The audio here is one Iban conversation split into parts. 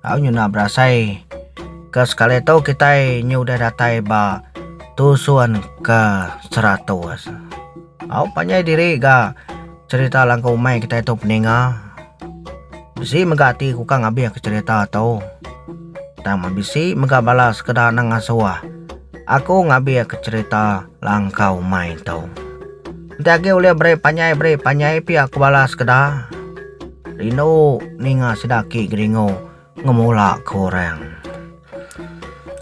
Au nyu enda berasai ke sekali tu kitai nyu udah datai ba tusun ke seratus. Au panjai diri ga cerita langkau umai kitai tu peninga. Bisi mega ati ku ka ngabih ke cerita tu. Tang men bisi mega bala sekeda nengasuh aku ngabih ke cerita langkau umai tu. Enti agi ulih beri panjai beri panjai pia ku bala sekeda. Rindu ninga sida aki geringu ngemula ke orang.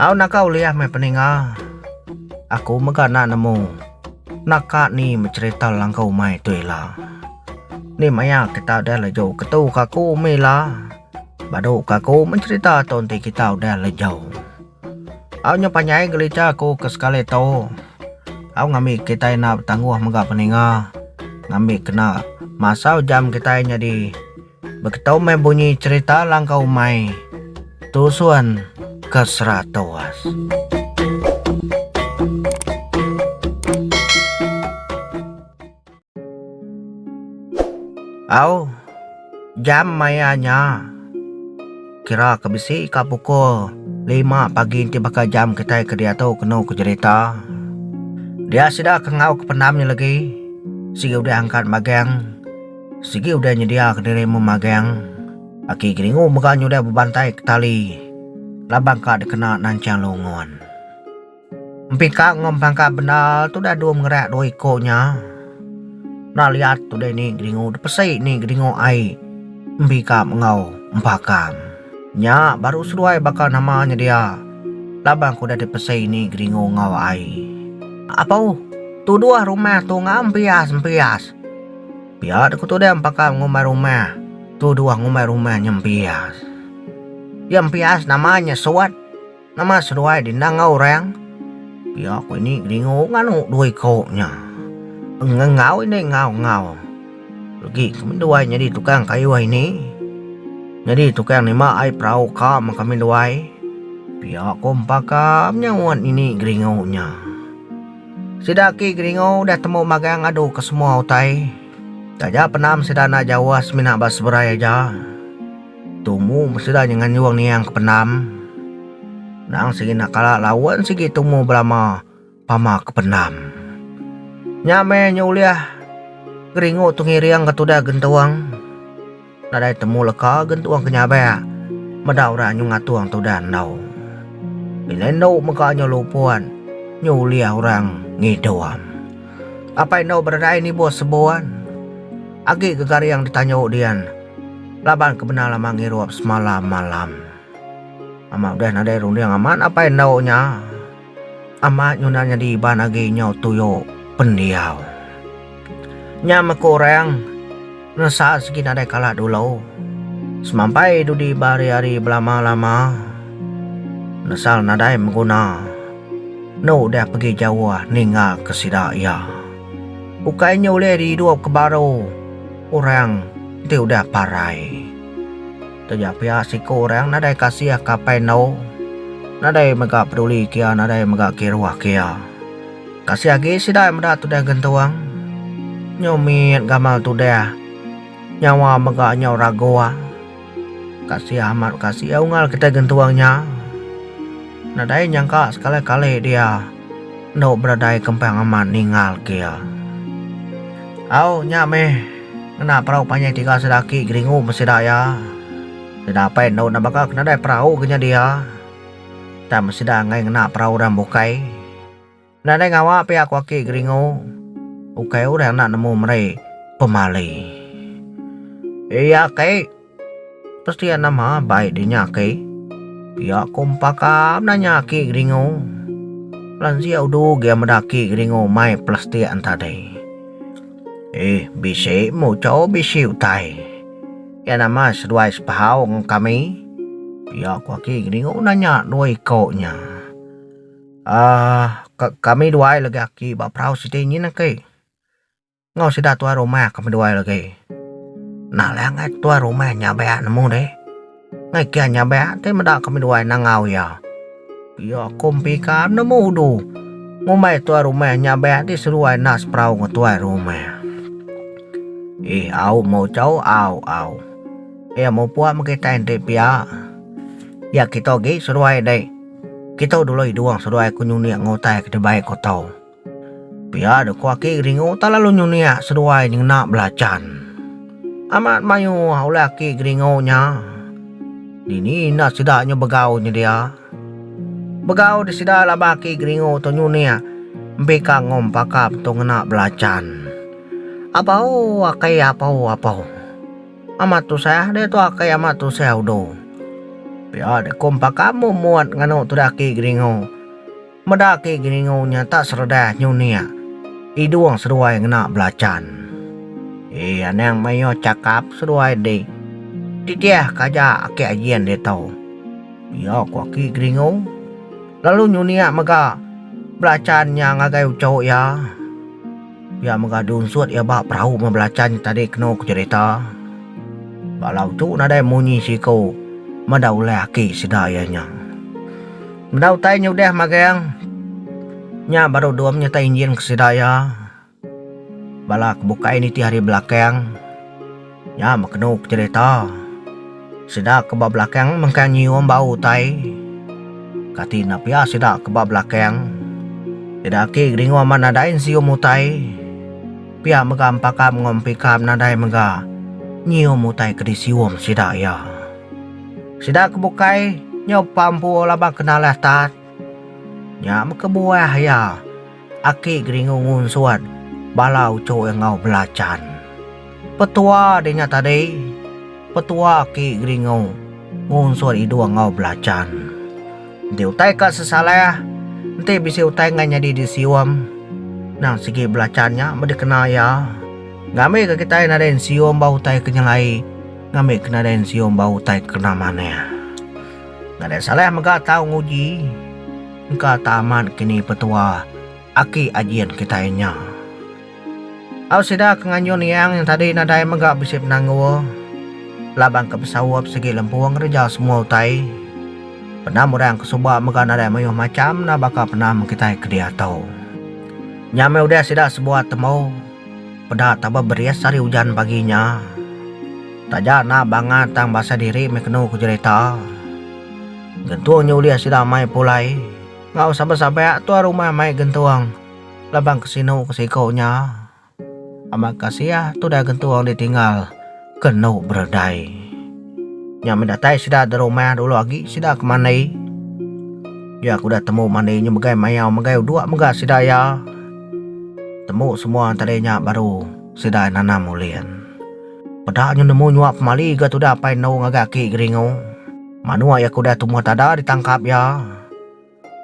Au naka ulih meh peninga aku mega enda nemu naka ni becerita langkau umai tu ila. Ni maya kita udah lejo ketu ke aku mih ila badu ke aku mencerita tu enti kita udah lejau. Au nyau panjai gelita aku ke sekali tu au ngambi kitai enda betangguh mega peninga ngambi kena masau jam kitai nyadi beketu meh bunyi serita langkau umai tusun ke seratus. Au, jam maya nya kira ke bisi ka pukul lima pagi enti baka jam kitai ke diatu kenu ke jerita. Dia sida ke enggau ke pendam nya lagi sigi udah angkat magang, sigi udah nyediaka diri meh magang. Aki Geringu mega nyudah bebantai ke tali laban ka dikena nancang lungun. Empika enggau empangka bendar tu udah dua mengereak dua iko nya. Enda liat udah ni geringu depesi ni geringu ai empika enggau empaka. Nya baru seduai baka nama nyedia laban aku udah dipesi ni geringu enggau ai. Apoh tuduh rumah tu enggau empias empias. Pia deh ku tudeh empaka ngumbai rumah tuduh ngumbai rumah nya empias. Nya empias nama nya suwat. Nama seduai di endang enggau orang? Pia aku ini ngelingu nganu dua iko nya. Pengengau indai enggau-enggau. Legi kami duai nyadi tukang kayuh ini. Nyadi tukang nima ai perau ka men kami duai. Pia aku empa ka menyauan ini ngelingu nya. Sida agi ngelingu udah temu magang ngadu ke semua utai. Taja penam sida enda jauh semina ba Seberai aja. Tumu beseda nya nganjung niang ke pendam. Nang sigi enda kala laun sigi tumu belama pama ke pendam. Nya meh nya ulih geringu tu ngiring ke tudah gentung. Nadai temu leka gentung ke nyabak meda orang nyu ngatung tudah endu. Bila endu mega nya luput nya ulih orang ngidum. Apai endo beredai nibuh sebuan agi gegaring ditanyu dian laban ke bendar lama ngirup semalam malam. Amat udah nadai runding amat apai endo nya amat nyunan nyadi iban agi nyau tuyo pendiau. Nya meh ku orang. Ngelesa sigi nadai kala dulu. Semampai dudi ba ari-ari belama-lama nesal nadai meguna enda udah pegi jauh ninggalka sida iya. Ukai nya ulih diidupka baru orang ti udah parai. Taja pia siku orang nadai kasih kapai endu, nadai mega peduli kia nadai mega kiruh kia. Kasih agi sida meda tudah gentung, nyau mit gamal tudah, nyawa mega nyau raguh. Kasih amat kasih iya unggal kitai gentung nya. Nadai nyangka sekali kali dia endu beredai kempang amat ninggal kia. Au nya meh. Ngena perau panjai tiga sedaki geringu meh sida iya. Sida apai endur enda baka ke nadai perau ke nyadi iya. Tang men sida enggai ngena perau orang bukai, enda deh ngawa pia ku aki geringu, ukai orang enda nemu meri pemali. Iya, Kai. Pestian nama bai dinya aki. Pia ko empa ka benanya aki geringu. Lansia udu gia meda aki geringu mai pelastian tadi. Ih bisi muchou bisi utai. Iya nama seduai sepahau ngan kami. Pia ko aki geringu nanya dua iko nya. Aah kami duai lagi aki ba perau siti nyin aki. Enggau sida tuai rumah ke meduai lagi. Nah alai angai tuai rumah nya beak nemu deh. Ngai kia nya beak ti meda ke meduai nangau iya. Iya ku mepika nemu udu. Ngumbai tuai rumah nya beak ti seduai enda seperau ngan tuai rumah. Ih au mojau au au. Iya mupuk meh kitai enti pia. Iya kita agi seduai deh. Kita dulu idung seduai ke nyunik ke utai ke dibai ko tau. Pia dek ku aki Geringo tak lalu nyuniak seduai nyengena belacan. Amat mayuh ulih aki Geringo nya. Dini indah sida nyu begau nyedia. Begau di sida laban aki Geringo tu nyuniak empika ngom pakap tu ngena belacan. Apau akai apau apau. Amat tusah deh tu akai amat tusah udo. Pia dek ku empaka muat muat nganu tu deh aki Geringo. Meda agi Geningu nyata sereda nyunik idung seduai ngena belachan. Ii Anang mayuh chakap seduai di titih ka aja aki Ajin ditu. Pia ku aki Geningu lalu nyunik mega belachan nya ngagai uchu iya. Pia mega dunsut iya ba perau meh belachan nya tadi kenu ku cherita. Bala uchu nadai munyi siku meda ulih aki sida iya nya. Meda utai nyudah magang nya baru dua menyertai injin ke sida iya bala ke bukai nitih ari belakang nya bekenu ke cerita sida ke ba belakang mengkang nyium bau utai kati enda pia sida ke ba belakang sida agi geringu amat nadai nyium utai pia mega empaka mengompika nadai mega nyium utai ke disium sida iya. Sida ke bukai nyumpah empu laban kenalah Tat, nya bekebuah iya aki geringu ngunsut bala uchu iya enggau belachan. Petua dih nya tadi, petua aki geringu ngunsut iduh enggau belachan. Enti utai ka sesalah, enti bisi utai enggai nyadi disium, endang sigi belachan nya meh dikena iya. Ngambika kitai nadai nesium ba utai ke nyelai. Ngambi ke nadai ensium ba utai kena manah. Nadai salah mega tau nguji engka ta amat ke ni petua aki ajin kitai nya. Au sida ke nganjun Yang nya tadi nadai mega bisi penanggul laban ke besaup sigi lempu ngereja semua utai. Penam orang ke suba mega nadai mayuh macham enda baka penam kitai ke diatu. Nya meh udah sida sebuah temu. Peda taba beris ari ujan pagi nya. Taja enda bangat tang basa diri meh kenu ku jerita. Gentung nya ulih sida mai pulai enggau saban-saban tuan rumah mai gentung laban ke sinu ke siko nya. Amat kasih tudah gentung ditinggal. Kenu beredai. Nya meh datai sida da rumah dulu agi sida ke mandi. Dia ku udah temu mandi nya megai mayau megai udok mega sida iya. Temu semua tadi nya baru sida nanam ulih. Peda nya nemu nyua pemali ga tudah apai anu ngagai aki Geringo. Manuk iya ke udah tumah tada ditangkap iya.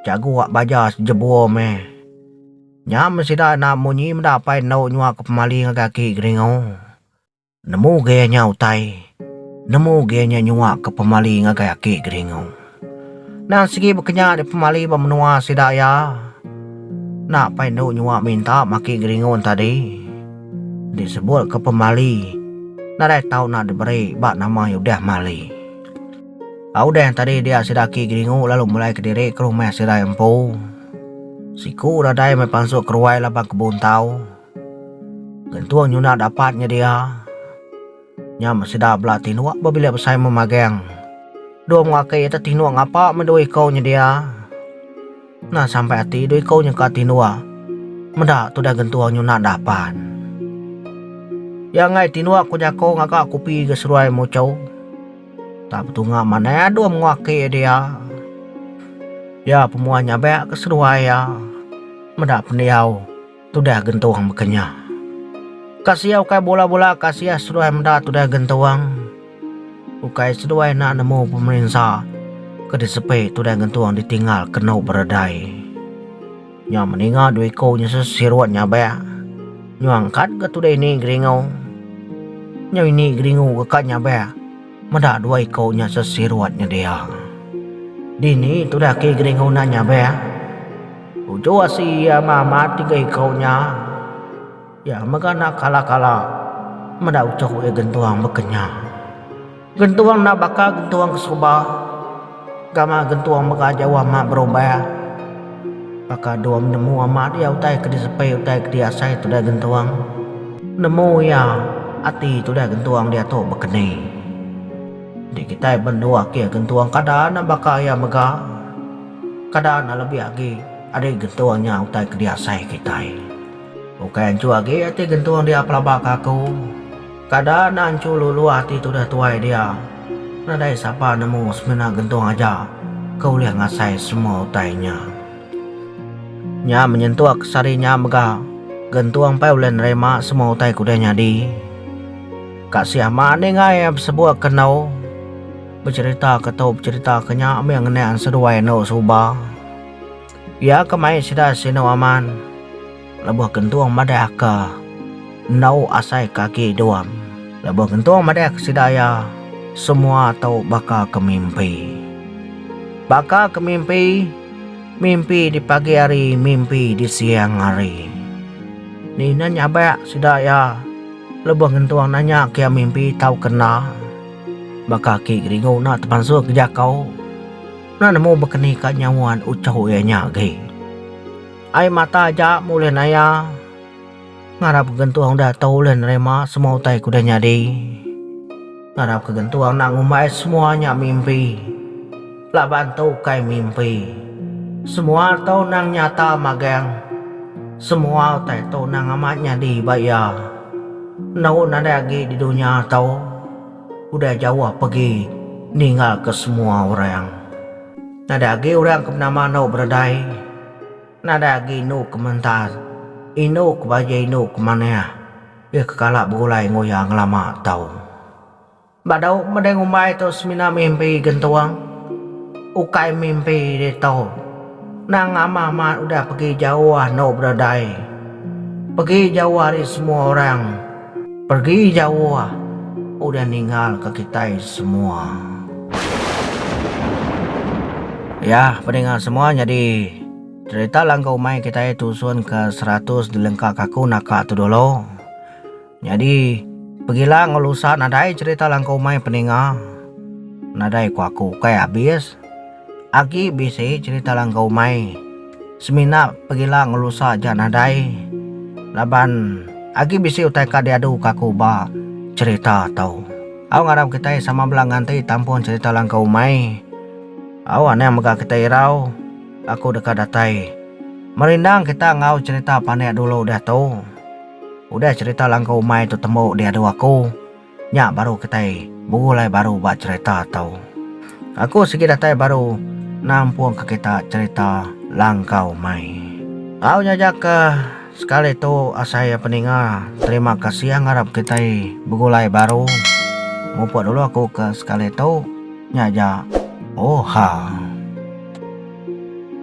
Jagu wak baja jebur meh. Nya meh sida na munyi meda apai anu nyua ke pemali ngagai aki Geringo. Nemu gaya nya utai. Nemu gaya nya nyua ke pemali ngagai aki Geringu. Nan sigi bekenya di pemali ba menua sida iya. Enda pai enu nyua minta ma aki Geringu enta di. Enti sebut ke pemali nadai tau enda diberi ba nama iya udah mali. Ba udah enta di dia sida aki Geringu lalu mulai kediri ke rumah sida iya empu. Siku nadai meh pansut keruai laban kebun tau. Gentung nyuna dapat nyedia nya meh sida bela tinuk bebilik besai memagang. Dua menua aka iya tu tinuk ngapa meh dua iku nyedia. Nah sampai ati dua iku nyengka tinuk meda tudah gentung nyuna dapat. Iya angai tinuk ku jaku ngaga kupi ga seruai muchau. Tak betunga manah dua menua aka iya dia. Iya pemua nyabek ke seduai iya meda pendiau. Tudah gentung baka nya. Ka sia ukai bula-bula ka sia seduai meda tudah gentung. Ukai seduai enda nemu pemerinsa ke disepi tudah gentung ditinggal kenu beredai. Nya meninga dua iku nya sesirut nyabak. Nyuang kad ga tudah ini geringu. Nyau ini geringu ga kad nyabak. Meda dua iku nya sesirut nyedia. Dini tudah ke geri nguna nya beh? Uju asi iya mamat tiga iku nya. Iya mega enda kala-kala meda uchu iya gentung bekenya. Gentung enda baka gentung ke suba. Gama gentung mega jauh amat berubah. Baka dua menemu amat iya utai ke disepi utai ke diasai tudah gentung. Nemu iya, ati tudah gentung diatu bekeni. Enti kitai benua kia gentung kada enda baka iya mega. Kada enda lebih agi ari gentung nya utai ke diasai kitai. Ukai anchu agi ati gentung dia pelaba ke aku. Kada nanchu luluh ati tudah tuai dia. Nadai sapa nemu semina gentung aja ke ulih ngasai semua utai nya. Nya menyentuk sehari nya mega gentung pai ulih nerima semua utai ke udah nyadi. Kasih amat ningai besebuk ke endu becherita ke tu becherita ke nya mih ngenang seduai endu suba. Iya ke mai sida sinu aman. Lebuh gentung madah aka endau asai ke agi duam. Lebuh gentung madah ke sida iya semua tu baka ke mimpi. Baka ke mimpi, mimpi di pagi hari, mimpi di siang hari. Ni na nyabak sida iya lebuh gentung nanya ke iya mimpi tau ke enda. Baka aki Gringo enda tepansu ke jako, enda nemu bekenika nyauan uchu iya nya agi. Ai mata aja mulih naya. Ngarap gentuang da tau ulih nerima semua utai ku da nyadi. Ngarap ke gentuang enda ngumbai semua nya mimpi. Laban tu ukai mimpi. Semua tu nang nyata magang. Semua utai tu nang amat nyadi ba iya. Enu nadai agi di dunya tu. Udah jauh pegi ninggalka semua orang. Nadai agi orang ke benama anu beredai. Nadai agi indu ke mentas. Indu ke baji indu ke manah. Iya ke kala begulai enggau iya ngelama tau. Ba dau meda ngumbai tu semina mimpi gentung. Ukai mimpi ditu. Nang amah mat udah pegi jauh anu beredai. Pegi jauh ari semua orang. Pergi jauh udah ninggal ka kitai semua. Yah peninga semua nyadi cerita langka umai kitai tusun ka seratus dilengka ka aku naka tu dulu. Nyadi pegila enggau lusa nadai cerita langka umai peninga nadai ku aku ukai abis. Agi bisi cerita langgar umai semina pegila ngelusa ja nadai laban agi bisi utai ka diadu ka aku ba cerita tu. Au ngarap kitai sama bela nganti tampung cerita langgar umai. Au anang mega kitai irau aku deka datai. Merindang kita enggau cerita panek dulu diatu. Udah cerita langgar umai tu tembu diadu aku. Nya baru kitai begulai baru ba cherita tu. Aku sigi datai baru nampung ke kita cherita langkau mai. Au nyaja ke sekali tu asai ya peninga terima kasih ya ngarap kitai begulai baru mupuk dulu aku ke sekali tu nya ja oha.